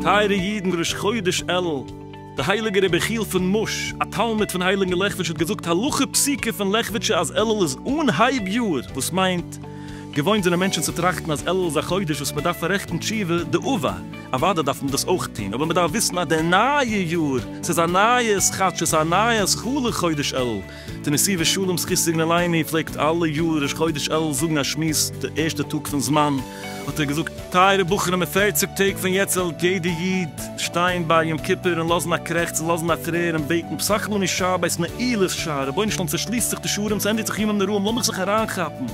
טייערע אידן ראש חודש אלול, דער הייליגער רבי יחיאל פון מוש, א תלמיד פון הייליגן לעכוויטש האט געזאגט הלכה פסוקה פון לעכוויטשע אז אלול איז אנהייב יאר וואס מיינט, געוואוינט זענען מענטשן צו טראכטן אז אלול איז א חודש וואס מען דארף פאררעכטן תשובה דאבה, אוודאי דארף מען דאס אויך טון, אבער מען דארף וויסן אז דער נייע יאר, ס'איז א נייע עס כאטש עס איז א נייע עס חלו חודש אלול, די נשיא ושלום זכותו יגן עלינו פלעגט אלע יאר ראש חודש אלול זאגן א שמועס די ערשטע טאג פון זמן, האט ער געזאגט, טייערע בחורים אין פערציג טעג פון יעצט זאל יעדע איד, שטיין ביי יום כיפור און לאזן א קרעכץ און לאזן א טרער און בעטן פסח לני שבת נעילת שער רבונו של עולם צושליסט זיך די שערים ס'ענדיגט זיך ימים נוראים לאמיך זיך אריינכאפן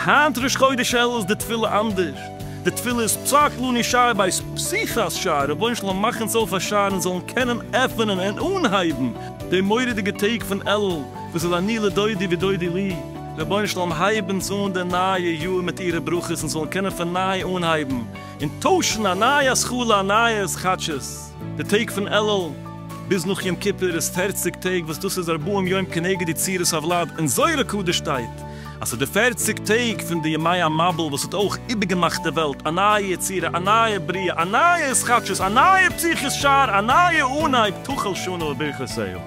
היינט ראש חודש אלול איז די תפילה אנדערש די תפילה איז פסח לני שבת פסיחת שער רבונו של עולם מאך אונז אויף א שער אונז זאלן קענען עפענען און אנהייבן די מורא'דיגע טעג פון אלול וואס איז אני לדודי ודודי לי רבונו של עולם הייב אונז אן די נייע יאר מיט אירע ברכות אונז זאלן קענען פון ניי אנהייבן און טוישן א נייע השכלה א נייעס כאטשעס די טעג פון אלול ביז נאך יום כיפור איז פערציג טעג וואס דאס איז ארבעים יום כנגד די צירות הוולד אין זוהר הקדוש שטייט אז ס'איז די פערציג טעג פון די ימי המבול וואס האט אויך איבערגעמאכט די וועלט א נייע יצירה א נייע בריאה א נייע התחדשות א נייע פתיחת שער א נייע אנהייב תחל שנה וברכותיה.